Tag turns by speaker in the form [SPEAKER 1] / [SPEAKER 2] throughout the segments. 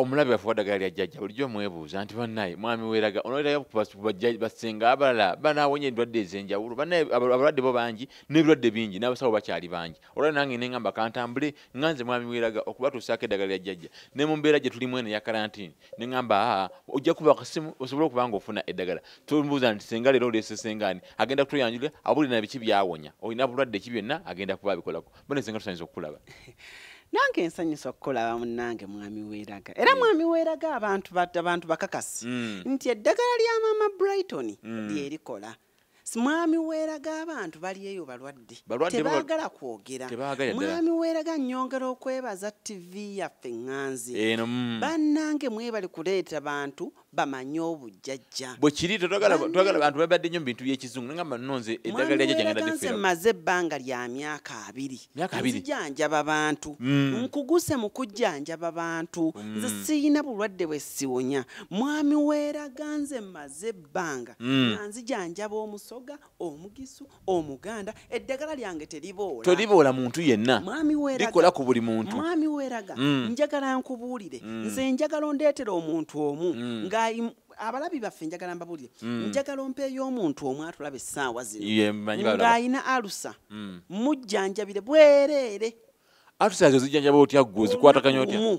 [SPEAKER 1] omulabe waffe wadagala lya jjajja bulijjo mwebuuza nti bannaye mwami weeraga onoerayo basenga abalala banawonya endwadde ez'enjawulo bannaye abalwadde bo bangi n'ebirwadde bingi n'abasawo bakyali bangi olwa nange ne ngamba kantambule nga nze mwami weeraga okubatuusaako eddagala lya jjajja ne mu mbeera gye tulimu eno eya karantini ne ngamba aa ojja kuba akasimu osobole okuba nga ofuna eddagala tombuuza nti senga leero oleese sengaani agenda kutuyanjulira abulire na biki byawonya olina bulwadde ki byonna agenda kuba abikolako mbona ezenga tusanyusa okukulaba nange
[SPEAKER 2] nsanyusa okukolaba munange mwami weraga era mm. mwami weraga abantu abantu bakakasi mm. nti eddagala lya mama brighton mm. lyerikola mwami weraga abantu bali eyo balwadde tebagala kwogera mwami weraga nyongera okwebaza tv yaffe ŋanzi banange mwebali kuleeta bantu bamanye obujjajja bwe kiri
[SPEAKER 1] twagala bantu babadde nnyo mu bintu by'ekizungu naye ngamba nonze eddagala lyajja jangenda difira nze mmaze ebbanga
[SPEAKER 2] lya myaka abiri myaka abiri nzijanjaba bantu mm. nkuguse mu kujjanjaba bantu mm. nze siyina bulwadde bwe siwonya mwami weeraga nze mmaze ebbanga mm. nga nzijanjaba omusoga omugisu omuganda eddagala lyange teriboola teriboola muntu
[SPEAKER 1] yenna likola ku buli muntu mwami weraga mm.
[SPEAKER 2] njagala nkubuulire mm. nze njagala ondeetera omuntu omu mm. nga abalabi baffe njagala mbabuulire mm. njagala ompeeyo omuntu omu atulaba essaawa zino ng'alina alusa mm. mujjanjabire bwereere alusa ezo
[SPEAKER 1] zijjanjaba otya ggwe ozikwataganya otya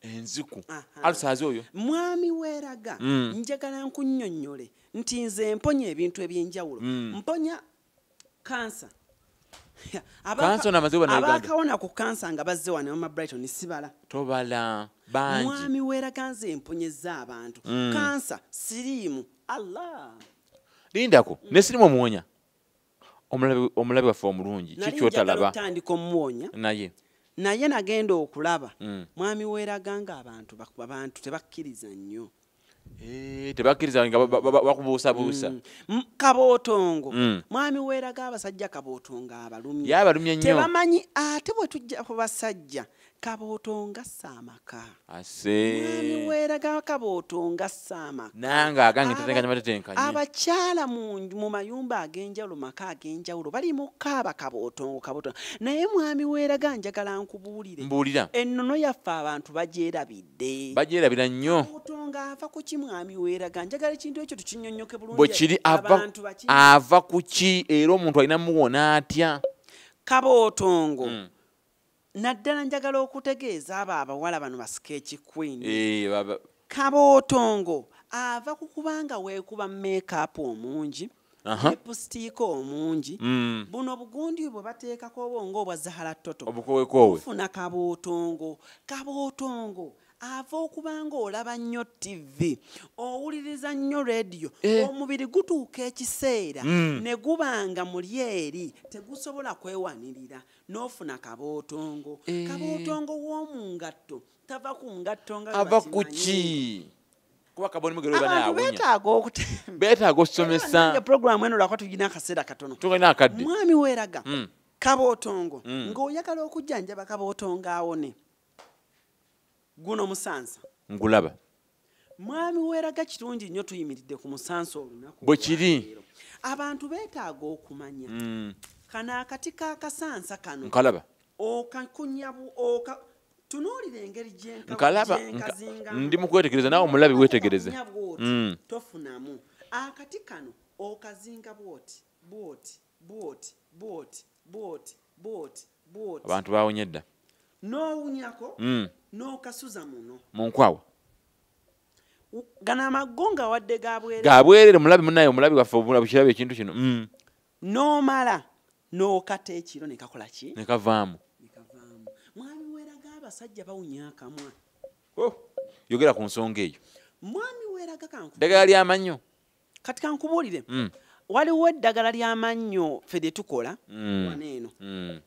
[SPEAKER 2] enziku
[SPEAKER 1] alusaze oyo mwami weraga
[SPEAKER 2] mm. njagala nkunyonyole nti nze mponya ebintu ebyenjawulo mm. mponya kansa abakawona ku kansa nga bazze wano mama brighton sibala tobala
[SPEAKER 1] bangi mwami weraga nze
[SPEAKER 2] emponyeza abantu mm. kansa siriimu allah lindako
[SPEAKER 1] mm. ne sirimu omuwonya omulabi waffe omulungi kikyotalaba tandika omuwonya
[SPEAKER 2] naye naye nagenda okulaba mm. mwami weraga nga abantu abantu tebakkiriza nnyo eh,
[SPEAKER 1] tebakkiriza nga bakubuusabuusa mm. kabootongo
[SPEAKER 2] mm. mwami weraga abasajja kabootongo abalumye abalumye nnyo tebamanyi
[SPEAKER 1] ate bwe
[SPEAKER 2] tujja ku basajja kabooto ngassa amaka mwami weeraga kabooto ngassa amaka nange agange tetenkanya
[SPEAKER 1] matetenkanya abakyala
[SPEAKER 2] mu mayumba ag'enjawulo maka ag'enjawulo bali mu kaaba kabootongo kabooto naye mwami weeraga njagala nkubuulire mbuulira ennono
[SPEAKER 1] yaffe abantu
[SPEAKER 2] bagyerabidde
[SPEAKER 1] bagyerabira nnyo kabootongo ava ku ki
[SPEAKER 2] mwami weeraga njagala ekintu ekyo tukinyonyoke bulungi bwe kiri
[SPEAKER 1] ava ku ki era omuntu alina muwona atya kabootongo
[SPEAKER 2] mm. naddala njagala okutegeeza abo abawala bano basika ekikwini eh, kabootongo ava ku kubanga weekuba makeup omungi epusitiika omungi mm. buno bugundi bwe bateekako obwongo obwa zahara toto obukowekowefuna kabootongo kabootongo ava okuba nga olaba nnyo ttivi owuliriza nnyo rediyo eh. omubiri gutuuka ekiseera mm. ne guba nga muli eri tegusobola kwewanirira n'ofuna kabootongo eh. kabootongo w'omu ngatto tava ku ngatto nga ava ku ki
[SPEAKER 1] kuba kaboni mugero bana ya wunya betaaga okute betaaga okusomesa ya program eno lakwa tujina
[SPEAKER 2] akasera katono tugina akadde mwami
[SPEAKER 1] weraga mm.
[SPEAKER 2] kabootongo mm. ng'oyagala okujjanjaba kabootongo awone guno musansa ngulaba
[SPEAKER 1] mwami
[SPEAKER 2] weraga kirungi nnyo tuyimiridde ku musansa olunaku bwe kiri
[SPEAKER 1] abantu
[SPEAKER 2] beetaaga okumanya mm. kano akati kakasansa kano nkalaba
[SPEAKER 1] okakunyabu
[SPEAKER 2] oka tunuulira engeri gyenkalaba
[SPEAKER 1] ndi mukwetegereza naawe omulabi wetegereze mm. tofunamu
[SPEAKER 2] akati kano okazinga bwoti bwoti abantu bawonye
[SPEAKER 1] dda nowunyako
[SPEAKER 2] mm. nokasuza muno munkwawa gano amago nga wadde gabwerere gabwerere mulabi
[SPEAKER 1] munaye omulabi waffe obukirabi ekintu kino mm. nomala
[SPEAKER 2] nokata ekiro nekakola ki nekavaamu mwami weraga abasajja bawunya akamwa oh,
[SPEAKER 1] yogera ku nsonga eyo mwami weraga
[SPEAKER 2] kanku ddagala lyamannyo
[SPEAKER 1] kati kankubuulire
[SPEAKER 2] mm. waliwo eddagala ly'amannyo ffe lye tukola mm. wano eno mm.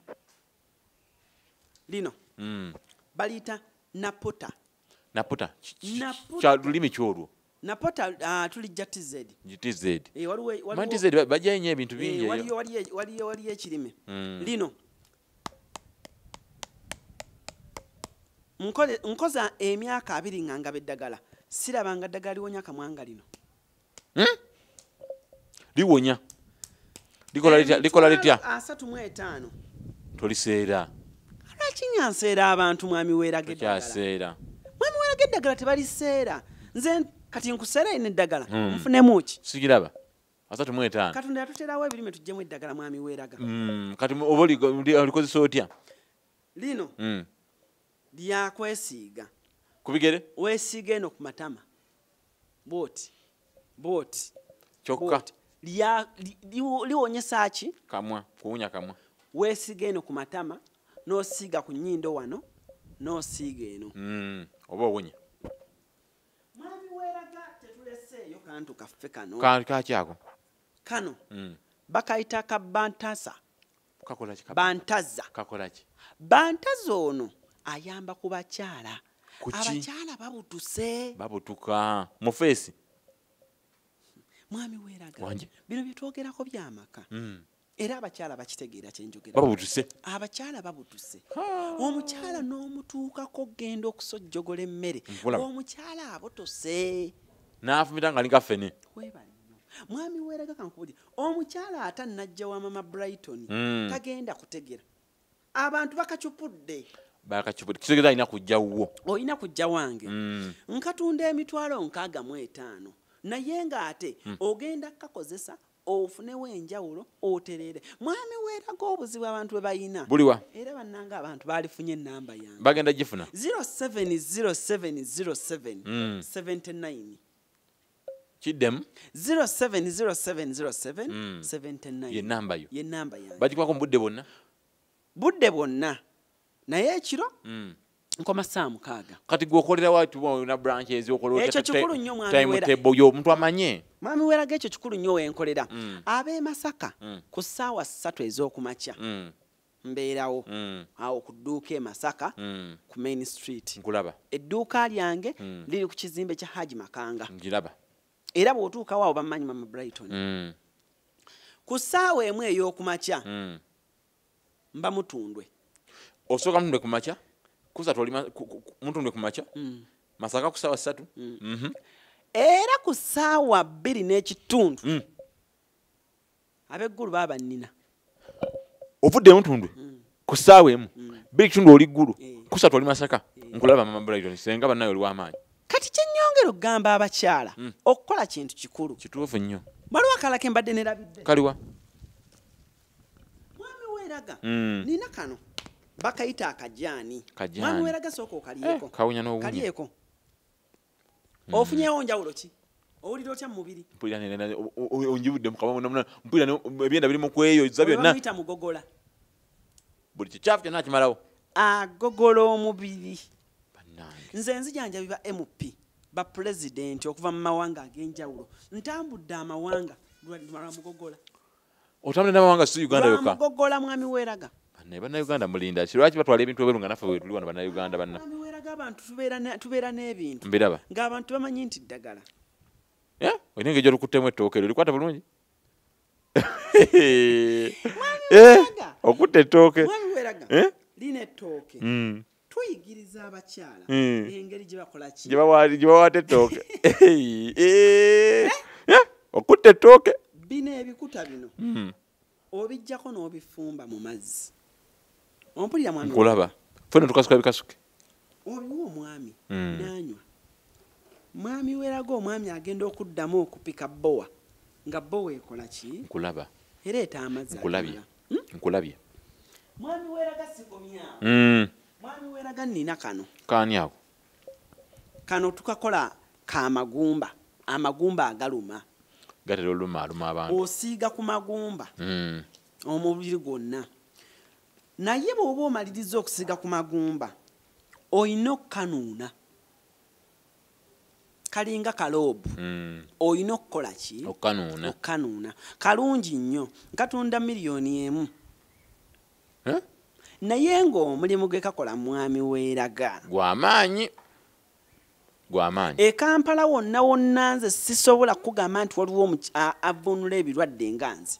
[SPEAKER 2] lino mm. baliyita
[SPEAKER 1] naputa naputa
[SPEAKER 2] kya lulimi ki olwo
[SPEAKER 1] napota uh,
[SPEAKER 2] tuli ja tz tz e, eh, waliwo,
[SPEAKER 1] waliwo,
[SPEAKER 2] tz bajayo
[SPEAKER 1] nyo ebintu bingi e, waliyo, waliyo, waliyo, waliyo
[SPEAKER 2] ekirime mm. lino nkoza emyaka abiri nga ngaba eddagala sirabanga ddagala liwonya kamwanga lino hmm?
[SPEAKER 1] liwonya likola litya asatu mu etaano toliseera
[SPEAKER 2] lwakinyanseera abantu mwami weeraga eddagala mwami
[SPEAKER 1] weeraga eddagala
[SPEAKER 2] tebaliseera nze kati nkuseera ino eddagala hmm. nfunemuki sikiraba
[SPEAKER 1] asatu mu etaano katonda yatuterawo
[SPEAKER 2] ebirime tujjemu eddagala mwami weeraga mm, kati oba
[SPEAKER 1] olikozesa otya lino
[SPEAKER 2] mm. lyakwesiiga ku bigere
[SPEAKER 1] weesiiga eno ku
[SPEAKER 2] matama bwoti bwoti kyokka liwonyesa ki kamwa kuwunya kamwa
[SPEAKER 1] weesiiga eno ku
[SPEAKER 2] matama n'osiiga ku nnyindo wano n'osiiga eno mm, oba owunya Mwami weraga tetuleseeyo kantu kaffe kano. Kantu kaki ako?
[SPEAKER 1] Kano.
[SPEAKER 2] Mm. Bakayita ka bantasa. Kakola ki?
[SPEAKER 1] Bantaza. Kakola
[SPEAKER 2] ki?
[SPEAKER 1] Bantaza
[SPEAKER 2] ono ayamba ku bakyala. Kuki? Abakyala
[SPEAKER 1] babutuse.
[SPEAKER 2] Babutuka.
[SPEAKER 1] Mu face.
[SPEAKER 2] Mwami weraga. Wanje. Bino byetwogerako byamaka. Mm. era abakyala bakitegeera kyenjogera babutuse abakyala
[SPEAKER 1] babutuse
[SPEAKER 2] omukyala n'omutuukako okugenda okusojjogola emmere omukyala abotose n'afumita nga
[SPEAKER 1] linga fene
[SPEAKER 2] mwami weeraga kankubuli omukyala ata najja wa mama brighton hmm. tagenda kutegera abantu bakacupudde bakacupudde kitegeza
[SPEAKER 1] alina kujja wuwo olina kujja wange
[SPEAKER 2] hmm. nkatunda emitwalo nkaaga mu etaano naye ng'ate hmm. ogenda kukakozesa ofunewo enjawulo oterere mwami weeraga obuzibu abantu bwe balina buliwa era bannanga
[SPEAKER 1] abantu
[SPEAKER 2] baalifunye enamba yange bagenda gifuna 07070779 mm.
[SPEAKER 1] kiddemu 07070779
[SPEAKER 2] yenamba yo yenamba
[SPEAKER 1] yange bagikwako mu
[SPEAKER 2] budde bwonna
[SPEAKER 1] budde
[SPEAKER 2] bwonna naye ekiro mm. nkoma saa mukaaga kati gwe okolera
[SPEAKER 1] watuna branch eziokolekyo kikulu nnyo
[SPEAKER 2] mwamiwerayo omuntu amanye
[SPEAKER 1] mwami weraga ekyo kikulu
[SPEAKER 2] nnyo wenkolera mm. ab'e masaka mm. ku ssaawa ssatu ez'okumakya mm. mbeerawo mm. awo ku dduuka e masaka mm. ku main street nkulaba edduuka
[SPEAKER 1] lyange
[SPEAKER 2] mm. liri ku kizimbe kya haji makanga ngiraba
[SPEAKER 1] era bw'otuukawo
[SPEAKER 2] awo bamanyi mama brighton mm. ku ssaawa emu ey'okumakya mm. mba mutundwe osooka
[SPEAKER 1] mutundwe ku makya kusatu oli mutundwe ku makya mm. masaka ku saawa ssatu mm. mhm.
[SPEAKER 2] era ku saawa bbiri n'ekitundu mm. abeggulu baba bannina
[SPEAKER 1] ovudde mutundwe ku saawa emu bbiri kitundu oli ggulu eh. kusatu oli masaka eh. nkulaba mama brighton senga bannaye oli w'amaanyi kati kyenyongera
[SPEAKER 2] okugamba abakyala hmm. okukola kintu kikulu kituufu nnyo
[SPEAKER 1] waliwo akalake mbadde
[SPEAKER 2] nerabidde kaliwa mwami weraga mm. nina kano bakayita akajani mwami weraga sooka okalyeko eh, kawunya n'owunya kalyeko mm. ofunyewo njawulo ki owulira otya mumubiri
[SPEAKER 1] onjibudde mukabamuna mpulira ebyenda biri mukweyo za byonna muyita mugogola buli kikyafu kyonna akimalawo agogola
[SPEAKER 2] omubiri nze nzijanja biba mp bapulezidenti okuva mu mawanga ag'enjawulo ntambudde amawanga lwamugogola otambula
[SPEAKER 1] n'amawanga si uganda yoka bamugogola mwami
[SPEAKER 2] weraga naye bannayuganda
[SPEAKER 1] mulinda ki lwaki batwala ebintu ebweru nga naffe wetuli wano bannayuganda banna abantu
[SPEAKER 2] tubeera n'ebintu mbiraba ng'abantu
[SPEAKER 1] bamanyi nti
[SPEAKER 2] ddagala
[SPEAKER 1] olina engeri gyolukuttemu ettooke lyo likwata bulungi eh, okutta ettooke
[SPEAKER 2] lina ettooke hmm. tuyigiriza abakyala hmm. engeri gye bakola ki gye bawaata ettooke
[SPEAKER 1] okutta ettooke bino ebikuta
[SPEAKER 2] bino hmm. obijjako n'obifumba mu mazzi ompulira mwami kulaba fena tukasuka
[SPEAKER 1] bikasuke obiwa
[SPEAKER 2] omwami hmm. nanywa mwami weraga omwami agenda okuddamu okupika bowa nga bowa ekola ki nkulaba era
[SPEAKER 1] eta amazzi
[SPEAKER 2] nkulabye hmm? nkulabye mwami weraga sikomya mm. mwami weraga nina kano kani ako kano tukakola ka magumba amagumba agaluma gatera oluma
[SPEAKER 1] aluma abantu osiiga ku magumba
[SPEAKER 2] mm. omubiri gwonna naye bwoba omaliriza okusiiga ku magumba olina okukanuuna kalinga kaloobu mm. olina okukola ki okukanuuna kalungi nnyo katunda miliyoni emu naye ng'omulimu gwe kakola
[SPEAKER 1] mwami
[SPEAKER 2] weeraga gwamaanyi
[SPEAKER 1] gwamaanyi e kampala
[SPEAKER 2] wonna wonna nze sisobola kukugamba nti waliwo avunula ebirwadde nga nze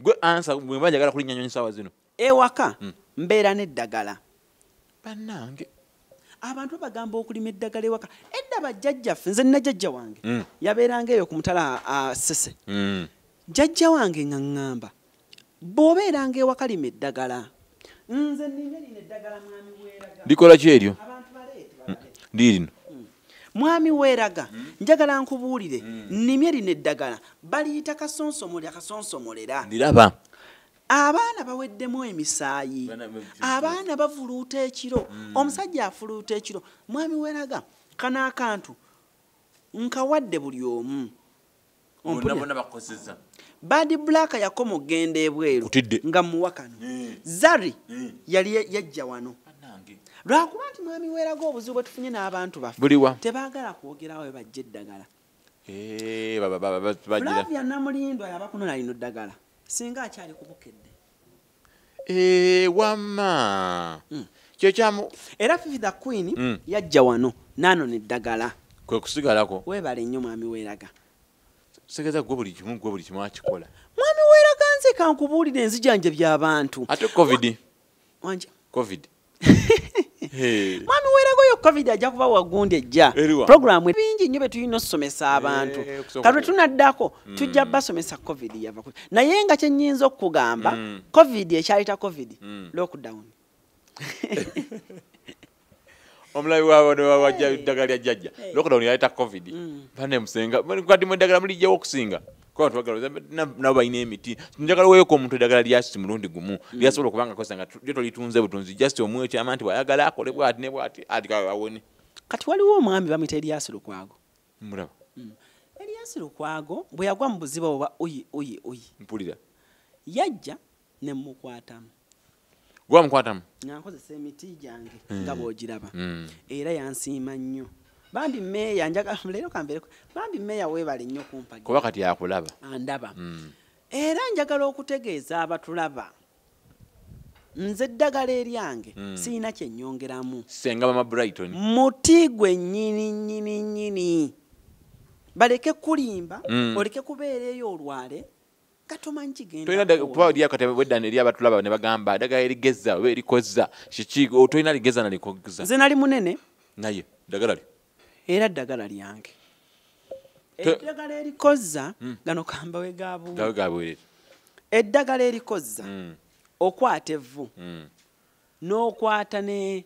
[SPEAKER 2] gwe ansa
[SPEAKER 1] bwemba njagala kulinnya nyonyi saawa zino ewaka hmm.
[SPEAKER 2] mbeera n'eddagala bannange
[SPEAKER 1] abantu
[SPEAKER 2] bagamba okulima eddagala ewaka edda bajjajjaffe nze nna jajja wange hmm. yabeeranga eyo ku mutala asese hmm. jajja wange nga ŋŋamba bw'obeeranga ewaka lima eddagala nze nina lino eddagala mwami weeraga likola ki eryo lirino
[SPEAKER 1] mwami
[SPEAKER 2] weeraga hmm? njagala nkubuulire hmm. nnimye lino eddagala baliyita kasonsomole akasonsomolera ndiraba
[SPEAKER 1] abaana
[SPEAKER 2] baweddemu emisaayi abaana bavuluuta ekiro hmm. omusajja afuluuta ekiro mwami weeraga kano akantu nkawadde buli omu bad black yakoma okugenda ebweru nga muwakano eh. zari eh. yali yajja wano lwakuba nti mwami weraga obuzibu bwetufunye n'abantu bafe tebagala kwogerawo webajja eddagala eh, flavia namulindwa yabakunona lino ddagala singa akyali kubukedde Eee eh, wama
[SPEAKER 1] mm. kyekyamu era fifi the queen
[SPEAKER 2] mm. yajja wano nano neddagala kwe kusigalako
[SPEAKER 1] webale nnyo mwami
[SPEAKER 2] weraga segeza
[SPEAKER 1] gwe buli kimu gwe buli kimu akikola mwami weraga
[SPEAKER 2] nze kankubuulire enzijanja byabantu ate covid
[SPEAKER 1] wanje
[SPEAKER 2] covid mwami weragoyo covid ajja kuba wagundi ejja programu bingi nnyo betulina okusomesa abantu kalwe tunaddako mm. tujja basomesa covid yava naye nga kyenyinza okukugamba mm. covid ekyaleta covid mm. lockdown
[SPEAKER 1] omulabi wabo newawajja eddagala lya jjajja lockdown yaleta covid bane musenga kati mu eddagala mulijjawo okusinga kuba twagala nabo balina emiti njagala weeko omuntu eddagala lyakiti mulundi gumu mm. lyasobola okuba nga kosa nga lyo tolitunze butunzi just omu ekyama nti bwayagala akole bwati ne bwati ati kawe awone kati waliwo
[SPEAKER 2] omwami bamuyita eliasi lukwago mulaba
[SPEAKER 1] mm. eliasi
[SPEAKER 2] lukwago bwe yagwa mu buziba oba oyi oyi oyi mpulira
[SPEAKER 1] yajja
[SPEAKER 2] ne mmukwatamu gwe
[SPEAKER 1] wamukwatamu nga nkozesa
[SPEAKER 2] emiti gyange mm. nga bw'ogiraba mm. era yansiima nnyo bambi meeya njagala leero kambeere bambi meeya weebale nnyo kumpagi kuba kati yakulaba
[SPEAKER 1] andaba mm.
[SPEAKER 2] era njagala okutegeeza abatulaba nze eddagala eryange mm. sirina kyenyongeramu senga mama brighton
[SPEAKER 1] muti gwe
[SPEAKER 2] nyini nyini nyini baleke kulimba mm. oleke kubeera eyo olwale tolinakuba lyakati
[SPEAKER 1] wedda eri abatulaba ne bagamba dagala erigeza oba erikozza kiki tolina ligeza nalikozza nze nali munene
[SPEAKER 2] naye dagala
[SPEAKER 1] li era ddagala
[SPEAKER 2] lyange eddagala erikozza hmm. gano kamba wegabwere eddagala erikozza hmm. okwata evvu hmm. n'okwata ne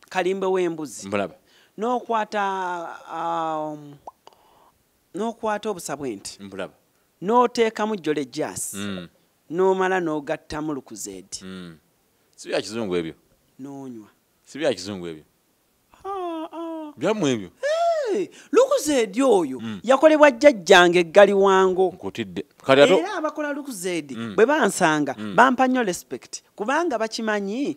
[SPEAKER 2] kalimbe w'embuzi mulaba n'okwata um, n'okwata obusa bw'ente mulaba n'oteekamu jjole jaasi mm. n'omala n'ogattamu lukuzeedi mm. si bya
[SPEAKER 1] kizungu ebyo n'onywa
[SPEAKER 2] si bya kizungu
[SPEAKER 1] ebyo ah, ah. byamu ebyo lukuzeedi
[SPEAKER 2] oyo mm. yakolebwa jjajjange eggali wango nkutidde era
[SPEAKER 1] abakola
[SPEAKER 2] lukuzeedi bwe bansanga bampa nnyo respect kubanga bakimanyi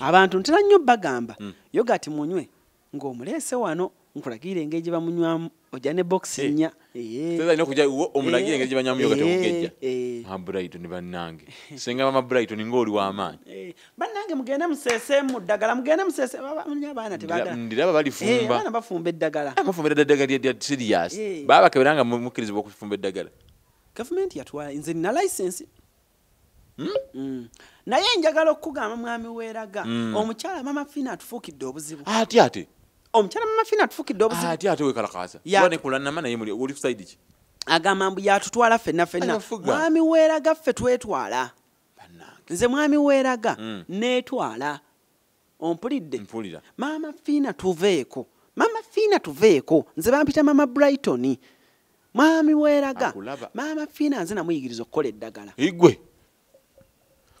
[SPEAKER 1] abantu
[SPEAKER 2] ntera nnyo bagamba mm. yogati munywe ng'omuleese wano nkulagira engeri gye bamunywamu ojja ne bokisi eh. nnya
[SPEAKER 1] omulagira eh. engeri gye banywamu yogati okugejja eh. mabrighton bannange senga mama brighton ng'oli w'amaanyi bannange mugende
[SPEAKER 2] museeseemu ddagala mugende museeseabaana tebagandiraba
[SPEAKER 1] balifumbaabaana
[SPEAKER 2] bafumba eddagala ah, bafumba eddagala
[SPEAKER 1] lya siriyasi baba bakebera nga mukkirizibwa okufumba eddagala gavumenti
[SPEAKER 2] yatwala nze nina licensi Hmm? Hmm. naye njagala okukugamba mwami weeraga hmm. omukyala mama fina atufuukidde obuzibu ati ate
[SPEAKER 1] omukyala
[SPEAKER 2] mama
[SPEAKER 1] fina atufuukidde obuzibu
[SPEAKER 2] ati
[SPEAKER 1] ate wekalakaaza wanekulanama
[SPEAKER 2] naye
[SPEAKER 1] muli oli kusaidi
[SPEAKER 2] ki
[SPEAKER 1] agamba
[SPEAKER 2] mbu yatutwala fenna fenna mwami weeraga ffe twetwala nze mwami weeraga netwala ompulidde mpulira maama fiina tuveeko maama fiina tuveeko nze bampita maama brighton mwami weeraga maama fiina nze namuyigiriza okukola eddagala igwe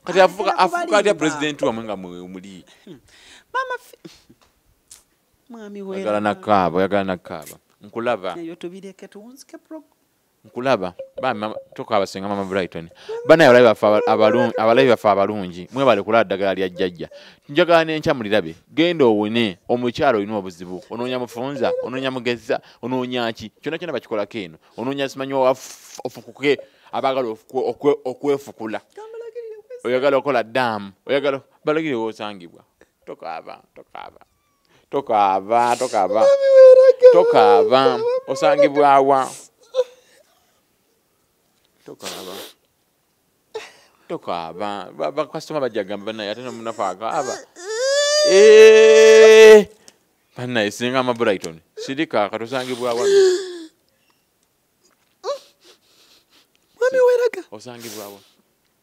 [SPEAKER 1] kati afuka afuka ya president wa mwinga muli hmm. mama
[SPEAKER 2] mwami wera yagala nakaba yagala nakaba
[SPEAKER 1] nkulaba nayo tubireke
[SPEAKER 2] tuwunzike pro nkulaba
[SPEAKER 1] bambi tukaaba senga mama brighton banaye abalabi baffe abalungi abalabi baffe abalungi mwebale kulaba ddagala lya jjajja njagala nenkya mulirabe genda owone omukyala olina obuzibu onoonya mufunza onoonya mugezza onoonya ki kyona kyona bakikolako eno onoonya simanyi ofukuke abagala okwefukula oyagala okola daamu oyagala balagire wosangibwa tokaaba tokaaba tokaaba tokaaba tokaaba osangibwawa tokaaba tokaaba bakasitoma bajja gamba banaye ate nomunafu akaaba eh! banaye singa amabrighton sirika katosangibwawa
[SPEAKER 2] osangibwawa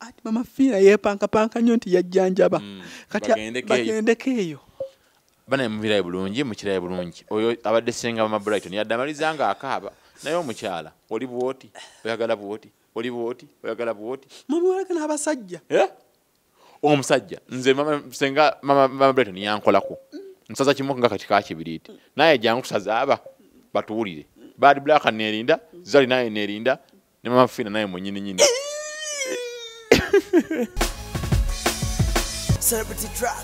[SPEAKER 1] ati
[SPEAKER 2] mama fiina yepankapanka nnyo nti yajjanjaba mm. kati bagendeko eyo banaye
[SPEAKER 1] mubiraye bulungi mukiraye bulungi oyo abadde senga mama brighton yadde amaliza nga akaaba naye omukyala oli bwoti oyagala bwoti oli bwoti oyagala bwoti mumuwalaga n'abasajja
[SPEAKER 2] eh?
[SPEAKER 1] omusajja nze senga mama brighton yankolako nsaza kimu nga kati kakibiriiti naye jangu tusazaaba batuwulire bad black neerinda zali naye neerinda ne mama fina naye mwenyini nyini
[SPEAKER 3] Celebrity track.